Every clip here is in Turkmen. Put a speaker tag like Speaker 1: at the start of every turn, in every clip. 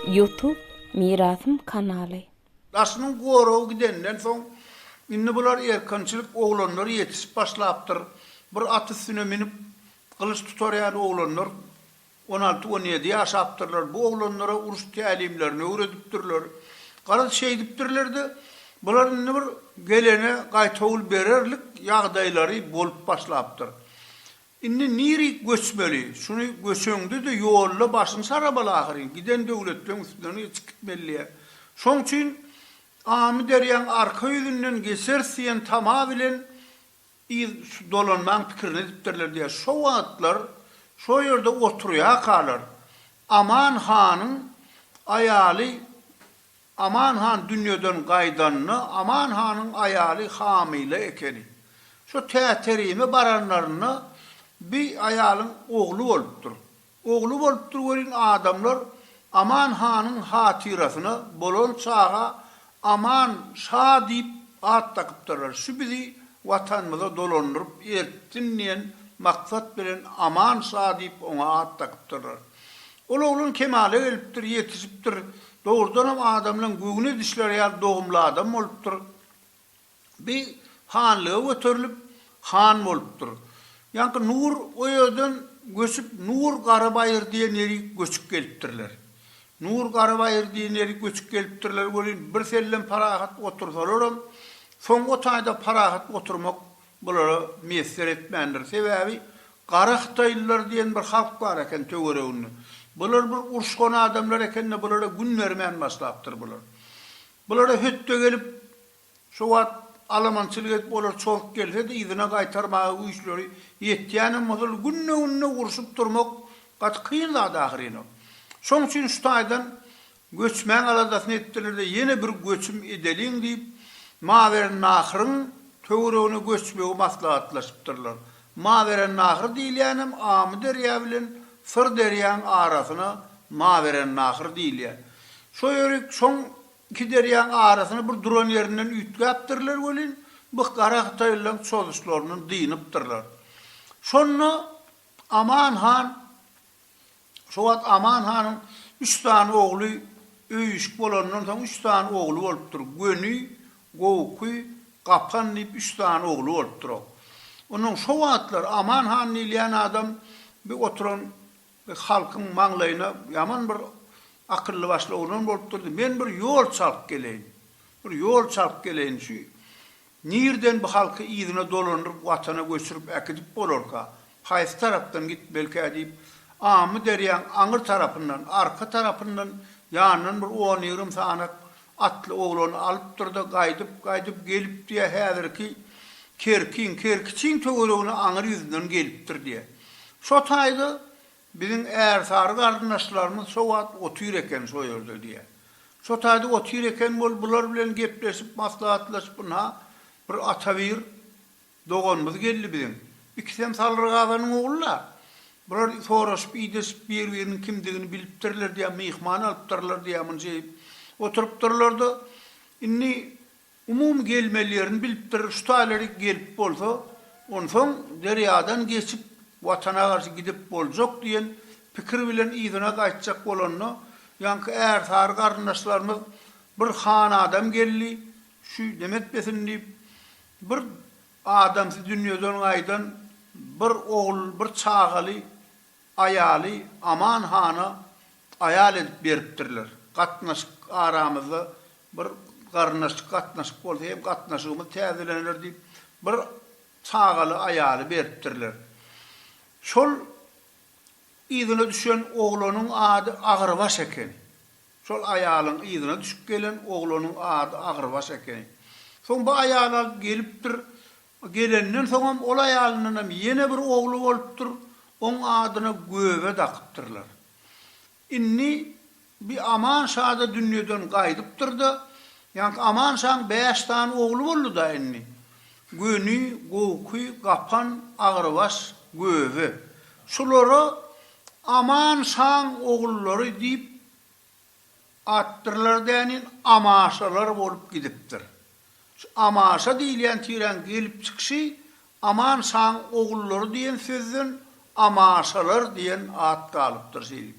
Speaker 1: Youtube Mirasym kanaly. Daşynyň
Speaker 2: goragy gidenden soň, indi bular erkinçilik oglanlary ýetişip başlapdyr. Bir at üstüne münüp, gylyç tutar ýaly oglanlar. On alty, on ýedi ýaşapdyrlar, bu oglanlara uruş tälimlerini öwredipdirler. Garaz, şeýdipdirler-de, bular indi bir gelene gaýtawul bererlik ýagdaýlary bolup başlapdyr. Indi nirik göçmeli? Şuny göçeňde-de ýolda başyny sarabaly ahyryn, giden döwletleň üstünden geçip gitmelidä. Şoň üçin Amyderýaň arka ýüzünden geçeris diýen tama bilen Yz dolanmaň pikirini edipdirler diýýär. Şo wagtlar şo ýerde oturýarkalar, Aman hanyň aýaly Aman han dünýeden gaýdanda, Aman hanyň aýaly hamyla ekeni. Şo Täterime baranlarynda bi aýalyň ogly bolupdyr. Ogly bolupdyr welin adamlar Aman hanyň hatyrasyna bolan çaga Aman şa diýip at dakypdyrlar. Şu bizi Watanymyza dolandyryp eltsin diýen maksat bilen Aman şa diýip oňa at dakypdyrlar. Ol oglan kemala gelipdir, ýetişipdir. Dogrudanam adamlaň göwün edişleri ýaly dogumly adam bolupdyr. Bi hanlyga göterilip, han bolupdyr. Ýaňky Nur o ýerden göçüp Nur Garabaýyr diýen ýeri göçüp gelipdirler. Nur Garabaýyr diýen ýeri göçüp gelipdirler welin birsellem parahat otursalaram, soň o taýda parahat oturmak bulara miýesser etmändir. Sebäbi Gara hytaýlylar diýen bir halk bar eken töwereginde. Bular bir uruşgan adamlar eken-de bulara gün bermän başlapdyr bular. Bulara hötde gelip Şo wagt alamançylyk edip olar çozuk gelse-de yzyna gaýtarmaga güýçleri ýetýänem bolsa ol günde-günde urşup durmak gaty kyn zat ahyryn-a. Şoň üçin şu taýdan göçmäň aladasyny etdiler-de ýene bir göçüm edeliň diýip Mawerennahryn töweregine göçmegi maslahatlaşypdyrlar. Mawerennahr diýilýänem Amyderýa bilen Syrderýaň arasyna Mawerennahr diýilýär. Şo ýerik şoň Iki derýaň arasyny bir duran ýerinden üýtgäpdirler welin, bu gara hytaýlylaryň çozuşlaryndan dynypdyrlar. Şonda Aman han Şo wagt Aman hanyň üç sany ogly öýüşik bolanyndan soň üç sany ogly bolupdyr. Göni, Gowuky, Gapan diýip üç sany ogly bolupdyr-ow. Onuň şo wagtlar Aman han diýilýän adam bir oturan Halkyň maňlaýyna ýaman bir akylly başly oglan bolup durdy. Men bir ýol çalyp geleýin. Bir ýol çalyp geleýin. Şu nirden bu halky yzyna dolandyryp watana göçürip äkidip bolarka? Haýsy tarapdan gitmelikä diýip, Amyderýaň aňyr tarapyndan, arka tarapyndan ýanyndan bir on-ýigrimi sanat Atly oglany alypdyr-da, gaýdyp-gaýdyp gelip diýýär, häzirki Kerkiň, Kerkiçiň töweregine aňyr ýüzünden gelipdir diýýär. Şo taýda biziň ärsary garyndaşlarymyz şo wagt otyr eken şo ýerde diýýär. Şo taýda otyr eken bol, bular bilen gepleşip, maslahatlaşyp ynha, bir atabir Doganymyz geldi biziň. Ikisem Salryk aganyň ogly-la. Bular soraşyp, idleşip, bir-biriniň kimdigini bilipdirler diýýän, myhman alypdyrlar diýýän munça iýip oturypdyrlar-da, indi umumy gelmeli ýerini bilipdir, şu taýlary gelip bolsa, onsoň derýadan geçip, Watana garşy gidip boljak diýen pikir bilen yzyna gaýtjak bolanda, ýaňky ärsary garyndaşlarymyz, Bir han adam geldi, şu nemetmesin diýip, Bir adamsy dünýeden gaýdan bir ogul bir çagaly aýaly Aman hana aýal edip beripdirler. Gatnaşyk aramyzda bir garyndaşlyk gatnaşyk bolsa hem gatnaşygymyz täzelener diýip bir çagaly aýaly beripdirler. Şol yzyna düşen oglanyň ady Agyrbaş eken. Şol aýalyň yzyna düşüp gelen oglanyň ady Agyrbaş ekeni. Soň bu aýaly alyp gelipdir. Gelenden soňam ol aýalyndanam ýene bir ogly bolupdyr. Oň adyna Göbe dakypdyrlar. Indi bi Aman şa-da dünýeden gaýdypdyr-da, ýaňky Aman şaň bäş sany ogly boldy-da indi. Göni, Gowky, Gapan, Agyrbaş, Göbe. Şulara Aman şaň ogullary diýip atdyrlar dänin amaşalar bolup gidipdir. Şu amaşa diýilýän tiräň gelip çykyşy Aman şaň ogullary diýen sözden amaşalar diýen at galypdyr şeýdip.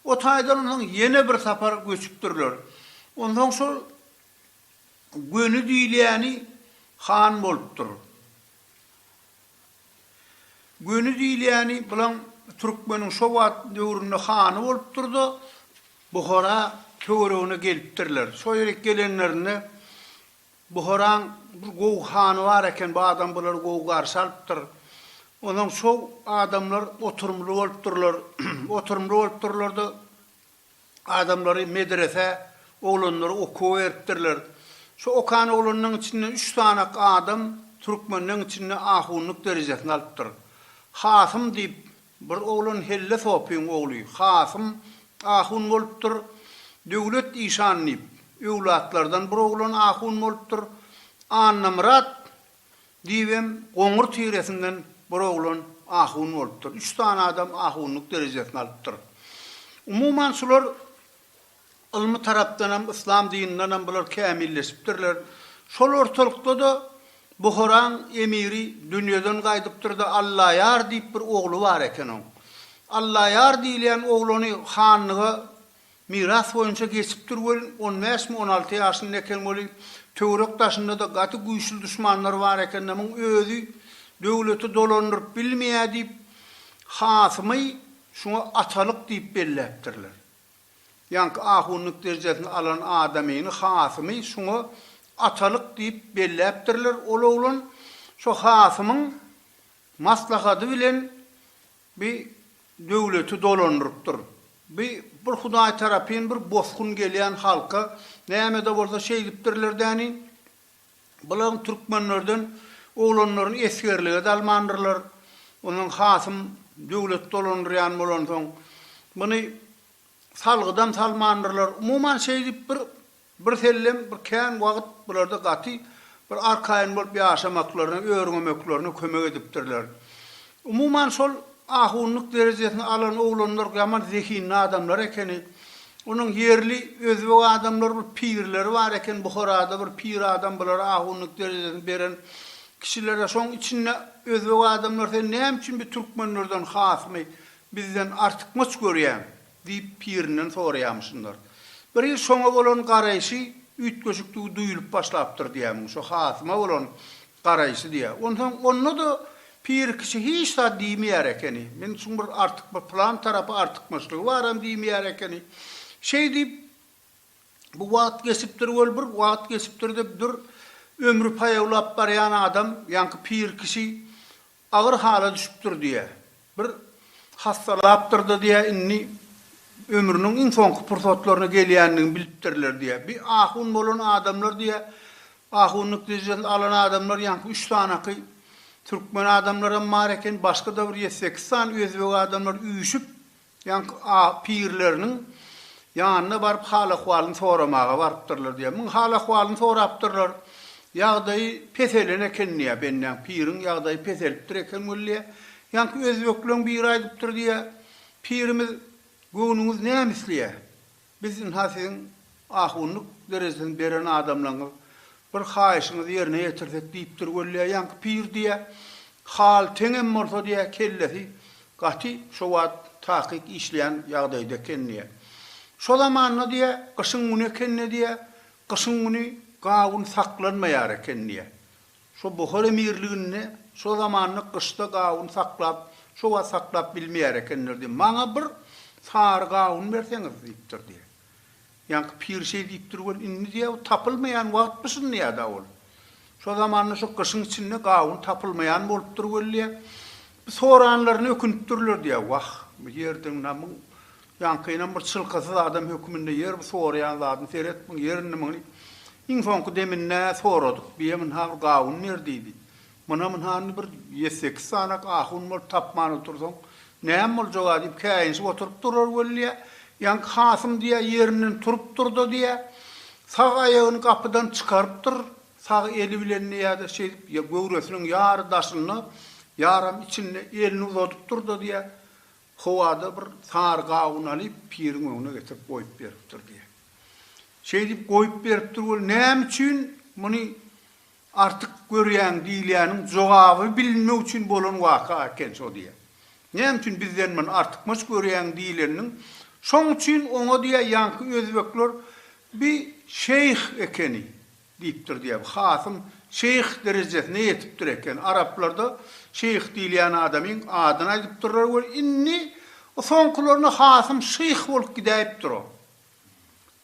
Speaker 2: O taýdan onsoň ýene bir sapar göçüpdirler. Onsoň şol Göni diýilýäni han bolupdyr. Göni diýilýäni bulam türkmeniň şo wagt döwründe hany bolupdyr-da, Buhara töweregine gelipdirler. Şo ýere gelenlerinde Buharaň bir gowy hany bar eken, bu adam bulary gowy garşy alypdyr. Onsoň şo adamlar oturymly bolupdyrlar. Oturymly bolupdyrlar-da, adamlary medresä, oglanlary okuwa beripdirler. Şu okan oglanlaryň içinde üç sanak adam türkmenleň içinde ahunlyk derejesini alypdyr. Hasym diýip, bir oglan Helle Sopyň ogly Hasym ahun bolupdyr. Döwlet işan diýip, öwlatlardan bir oglan ahun bolupdyr. Annamyrat Diýibem, goňur tiresinden bir oglan ahun bolupdyr. Üç sany adam ahunlyk derejesini alypdyr. Umuman, şular ylmy tarapdanam, yslam dinindänem bular kämilleşipdirler. Şol ortalykda-da Buharaň emiri dünýeden gaýdypdyr-da, Allaýar diýip bir ogly bar eken oň. Allaýar diýilýän oglany hanlyga Miras boýunça geçipdir welin on bäşmi on alty ýaşynda eken weli töwerek daşynda-da gaty güýçli duşmanlary bar ekende muň özi döwleti dolandyryp bilmeýä diýip hasymy şuňa atalyk diýip belläpdirler. Ýaňky ahunlyk derjesini alan adamyny hasymy şuňa atalyk diýip belläpdirler ol oglan şo hasymyň maslahady bilen Bi döwleti dolandyrypdyr. Bi bir hudaý tarapyn bir bosgun gelýän halka näme-de bolsa şeýdipdirler däni. Bulaň türkmenlerden oglanlaryny esgerlige de almandyrlar. Onsoň hasym döwlet dolandyrýan bolansoň, muny salgydan salmandyrlar. Umuman şeýdip bir Birsellem bir kän wagt bularda gaty bir arkaýyn bolup ýaşamaklaryna, örňemeklerine kömek edipdirler. Umuman şol ahunlyk derejesini alan oglanlar ýaman zehinli adamlar ekeni. Onuň ýerli özbek adamlary bir pirleri bar eken Buharada bir pir adam bulara ahunlyk derejesini beren kişilere şoň içinde özbek adamlary sen näme üçin bi türkmenlerden hasmy bizden artykmaç görýäň? Diýip, pirinden soraýamyşynlar. Biri şoňa bolan garaýşy üýtgeşikdigi duýulyp başlapdyr diýýärmiň, şo hasyma bolan garaýşy diýýär. Onsoň onda-da pir kişi hiç zat diýmeýär ekeni. Men şuň bir artyk bir pylan tarapy artykmaçlygy baram diýmeýär ekeni. Şeý diýip, bu wagt geçipdir weli bir wagt geçipdir dep dur, ömri paýawlap barýan adam, ýaňky pir kişi Agyr hala düşüpdir diýýä. Bir hassalapdyr-da diýýä, indi ömrüniň iň soňky pursatlaryna gelýändigini bilipdirler diýýä. Bir ahun bolan adamlar diýýä, ahunlyk derejesini alan adamlar ýaňky üç sanaky türkmen adamlaram bar eken, başga-da bir ýedi-sekiz sany özbek adamlar üýşüp, Ýaňky a pirleriniň ýanyna baryp hal-ahwalyny soramaga barypdyrlar diýýär. Muň hal-ahwalyny sorapdyrlar. Ýagdaýy peselen eken diýýär. Bendäň piriň ýagdaýy peselipdir eken weli diýýär. Ýaňky özbekleň biri aýdypdyr diýýär. Pirimiz, Göwnüňiz näme isleýär? Biz ynha siziň ahunlyk derejesini beren adamlaryňyz bir haýyşyňyzy ýerine ýetirsek diýipdir wella ýaňky pir diýýä. Hal teňem bolsa diýýä kellesi gaty şo wagt takyk işleýän ýagdaýda eken diýýä. Şo zamanda diýýä gyşyň güni ekende diýýä gyşyň güni gawun saklanmaýar eken diýýä. Şo Buhar emirliginde şo zamanda gyşda gawun saklap, şo wagt saklap bilmeýär ekenler diýip, maňa bir sary gawun berseňiz diýipdir diýýär. Ýaňky pir şeý diýipdir weli, indi diýýär, bu tapylmaýan wagtmy şuny diýýär-de ol. Şo zamanda şo gyşyň içinde gawun tapylmaýan bolupdyr weli diýýär. Soranlaryna ökünipdirler diýýär. Wah, bu ýerden namyň Ýaňkynam bir çylkasyz adam höküminde ýer bu soraýan zadyny seret, muň ýerindimiň diýip. Iň soňky deminde soradyk. Biýe mynha bir gawun ber diýdi. Myna mynha indi bir ýedi-sekiz sanak ahun bolup tapman otursaň, näme boljag-a diýip käýinşip oturyp durar welliä, ýaňky hasym diýýä ýerinden turupdyr-da diýýä, sag aýagyny gapydan çykarypdyr, sag eli bilen diýýä-de şeýdip göwresiniň ýary daşynda, ýaram içinde elini uzadypdyr-da diýýä, Howada bir sary gawun alyp, piriň öňüne getirip goýup beripdir diýýär. Şeýdip goýup beripdir weli, näme üçin muny artyk görýäň diýilýäniň jogaby bilinmek üçin bolan waka eken şo diýýär. Näme üçin bizden muny artykmaç görýäň diýileniň, şoň üçin oňa diýýär, ýaňky özbekler bi şeýh ekeni. Diýipdir diýýär. Bu hasym şeýh derejesine ýetipdir eken. Araplarda şeýh diýilýän adamyň adyny aýdypdyrlar we indi bu soňkularynda hasym şyh bolup gidäýipdir ol.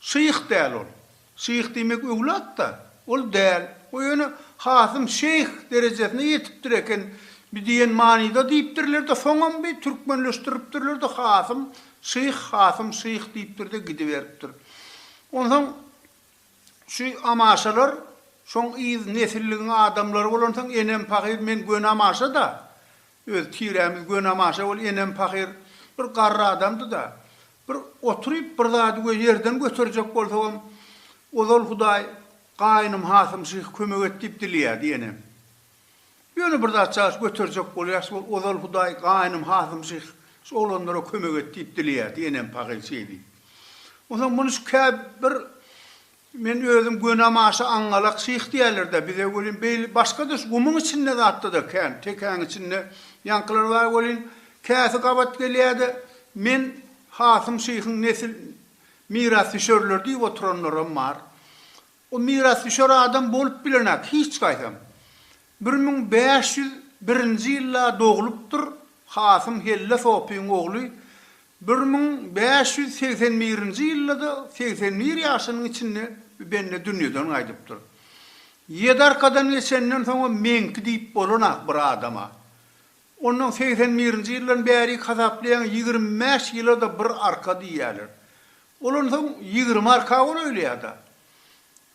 Speaker 2: Şyh däl ol. Şyh diýmek öwlat-da. Ol däl. O ýöne hasym şeýh derejesine ýetipdir eken bi diýen manyda diýipdirler-de, soňam bi türkmenleşdiripdirler-de hasym şyh, hasym şyh diýipdir-de gidiberipdir. Onsoň Şu amaşalar şoň yz nesilligiň adamlary bolansoň enem pahyr men göni amaşada öz tirämiz göni amaşa ol enem pahyr bir garry adamdyda bir oturyp bir zady we ýerden göterjek bolsagam ozal hudaý gaýnym hasym şyh kömek et diýip dileýärdi enem. Ýöne bir zat çaş göterjek bolýarys, ol ozal Hudaý gaýnym Hasym şyh şu oglanlara kömek et diýip dileýärdi, enem pahyr şeý diýip. Onsoň muny şu kä bir men özüm gönäm aşa aňňalak şyh diýerler-dä bize welin beýle başga-da şu gumuň içinde zatda-da kän, tekäň içinde ýaňkylar bar welin käsi gabat gelýär-de men Hasym şyhyň nesil mirasdüşerleri diýip oturanlaram bar. O mirasdüşer adam bolup bilenok hiç gaýsam. Bir müň bäş ýüz birinji ýylda doglupdyr, hasym Helle Sopyň ogly, bir müň bäş ýüz segsen birinji ýylda-da segsen bir ýaşynyň içinde bi bende dünýeden gaýdypdyr. Ýedi arkadan geçenden soňam meňki diýip bolanok bir adama. Ondan segsen birinji ýyldan bärik hasaplaýaň ýigrimi bäş ýyla-da bir arka diýýäler. Olan soň ýigrimi arka bol öýleýada.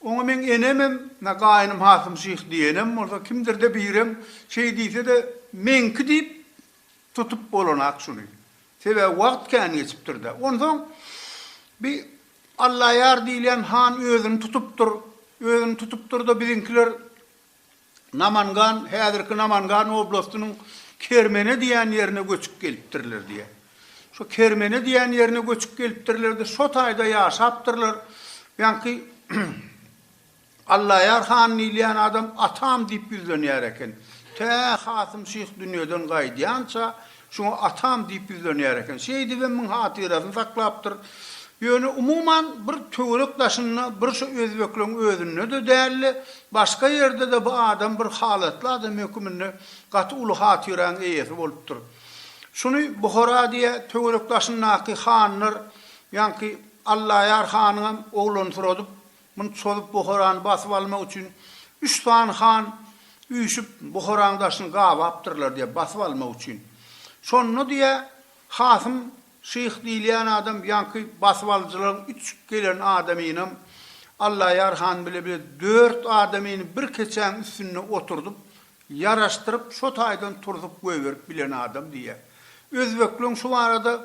Speaker 2: Oňa meň enemem, na gaýynym Hasym şyh diýenem bolsa, kimdir-de birem şeý diýse-de, meňki diýip tutup bolanak şuny. Sebäbi wagt kän geçipdir-dä. Onsoň bi Allaýar diýilýän han özüni tutupdyr. Özüni tutupdyr-da, biziňkiler Namangan, häzirki Namangan oblastynyň Kermene diýen ýerine göçüp gelipdirler diýýär. Şu Kermene diýen ýerine göçüp gelipdirler-de, şo taýda ýaşapdyrlar. Ýaňky Allaýar han diýilýän adam atam diýip ýüzlenýär eken. Tä Kasym şyh dünýeden gaýdýança, Şoňa atam diýip ýüzlenýär eken. Şeýdibem muň hatyrasyny saklapdyr. Ýöne, umuman, bir töwerek daşynda, bir şu özbekleň özünde-de däl-de, başga ýerde-de bu adam bir halatly adam höküminde gaty uly hatyraň eýesi bolupdyr. Şuny Buhara diýýä, töwerek daşyndaky hanlar, ýaňky Allaýar hanyňam oglany soradyp, Muny çozup Buharany basyp almak üçin üç sany han üýşüp Buharaň daşyny gabapdyrlar diýýär, basyp almak üçin. Şonda diýýär, Hasym şyh diýilýän adam ýaňky basyp alyjylaryň üç gelen adamynam Allaýar han bile bile dört adamyny bir keçäň üstünde oturdyp, ýaraşdyryp, şo taýdan turzup goýberip bilen adam diýýär. Özbekleň şu barada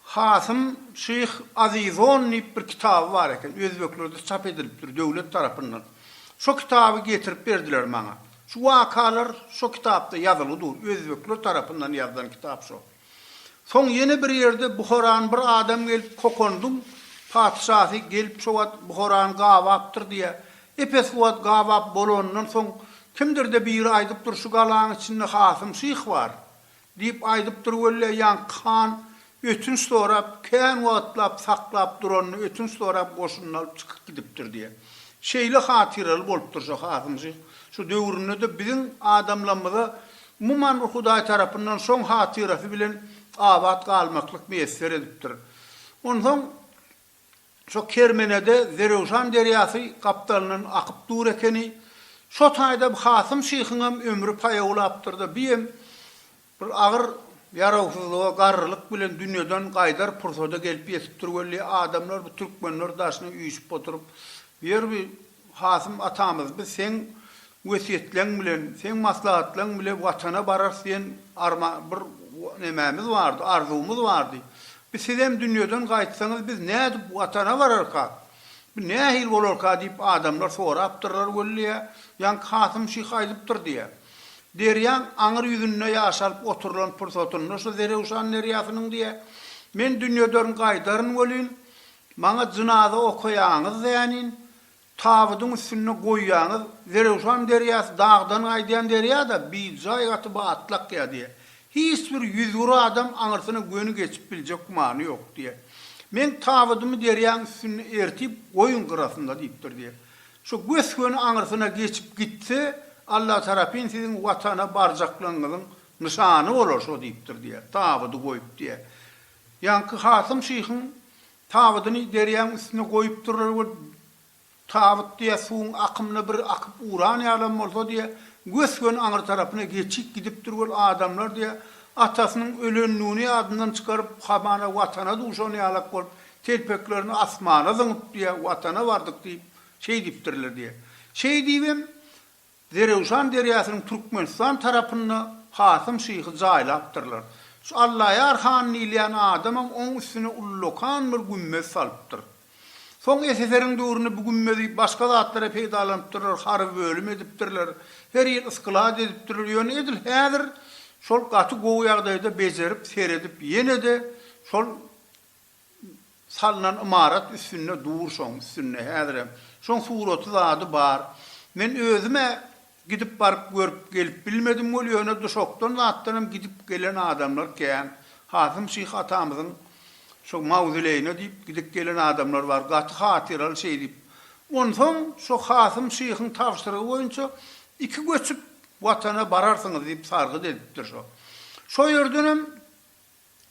Speaker 2: Hasym Şyh Azizon diýip bir kitaby bar eken, özbeklerde çap edilipdir döwlet tarapyndan. Şo kitaby getirip berdiler maňa. Şu wakalar şo kitapda ýazyly dur, özbekler tarapyndan ýazylan kitap şo. Soň ýene bir ýerde Buharan bir adam gelip Kokondyň patyşasy gelip şo wagt Buharany gabapdyr diýýär. Epes wagt gabap bolanyndan soň kimdir-de biri aýdypdyr şu galaň içinde Hasym Şyh bar. Diýip aýdypdyr welle, ýaňky han ötünç sorap, kän wagtlap saklap duranyny ötünç sorap goşunyny alyp çykyp gidipdir diýe. Şeýle hatyraly bolupdyr şu Hasymjyk. Şu döwründe-de biziň adamlamyza umuman bir Hudaý tarapyndan şoň hatyrasy bilen abat galmaklyk miýesser edipdir. Onsoň Şo kermenede Zerewşan derýasy gapdalyndan akyp dur ekeni. Şo taýda bu Hasym şyhyňam ömri paýawlapdyr-da, biem bir agyr ýarawsyzlyga, garrylyk bilen dünýeden gaýdar pursady gelip ýetipdir weli, adamlar bu türkmenler daşyna üýşüp oturyp, ýer bir Kasym atamyz biz seň wesýetleň bilen, seň maslahatlaň bile watana bararys diýen arma bir nemämiz bardy, arzuwymyz bardy. Biz sizem dünýeden gaýtsaňyz biz nädip watana bararka? Bu nähili bolarka diýip adamlar sorapdyrlar wellýä, ýaňky Kasym şyh aýdypdyr diýýä. Derýaň aňyr ýüzünde ýaşalyp oturylan pursatynda şu Zerewşan derýasynyň diýýä, Men dünýeden gaýdaryn welin, Maňa jynaza okaýaňyz zänin, tabydyň üstünde goýýaňyz, Zerewşan derýasy dagdan gaýdýan derýa-da, bijaý gaty batlakýa diýýär. Hiç bir ýüzgür adam aňyrsyna göni geçip biljek gümany ýok diýýär. Meň tabydymy derýaň üstünde ertip goýuň gyrasynda diýipdir diýýär. Şo gös-göni aňyrsyna geçip gitse, Allatarapyn siziň Watana barjaklygyňyzyň nyşany bolar şo diýipdir diýýär. Tabydy goýup diýýär. Ýaňky Hasym şyhyň tabydyny derýaň üstüne goýupdyrlar we tabyt diýä suwuň akymyna bir akyp uran ýalam bolsa diýä gös-gön aňry tarapyna geçip gidipdir we adamlar diýä atasynyň ölendigini ýadyndan çykaryp hamana watana duşan ýalak bolup telpeklerini asmana zyňyp diýä watana bardyk diýip şeýdipdirler diýä. Şeýdibem Zerewşan derýasynyň Türkmenistan tarapynda Kasym şyhy jaýlapdyrlar. Şu Allaýar han diýilýän adamam oň üstüne ullakan bir gümmez salypdyr. Soň SSR-iň döwründe bu gümmezi başga zatlara peýdalanypdyrlar, harby bölüm edipdirler, her ýyl sklad edipdirler, ýöne edil häzir şol gaty gowy ýagdaýda bejerip, seredip ýene-de şol. salnan ymarat üstünde dur şoň üstünde häzirem şoň suraty zady bar men özümä gidip baryp görüp gelip bilmedim weli ýöne duşakdan zatdanam gidip gelen adamlar kän Hasym şyh atamyzyň şo mawzileýine diýip gidip gelen adamlar bar gaty hatyraly şeý diýip onsoň şo Hasym şyhyň tabşyrygy boýunça iki göçüp watana bararsyňyz diýip sargyt edipdir şo şo ýerdenem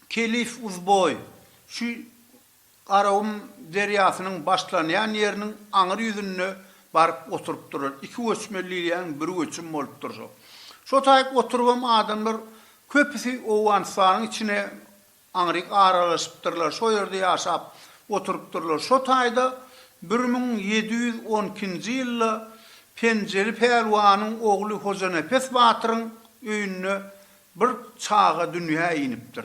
Speaker 2: Kelif Uzboý, şu Garagum derýasynyň başlanýan ýeriniň aňyr ýüzünde baryp oturyp durar. Iki göçme liliýanyň bir göçüm bolup durşy. Şotaýyp oturybam adamlar köpüsi Owganystanyň içine aňryk aralaşypdyrlar, şo ýerde ýaşap oturypdyrlar. Şo taýda bir müň ýedi ýüz on ikinji ýylda Penjeli pälwanyň ogly Hojanepes batyryň öýünde bir çaga dünýä inipdir.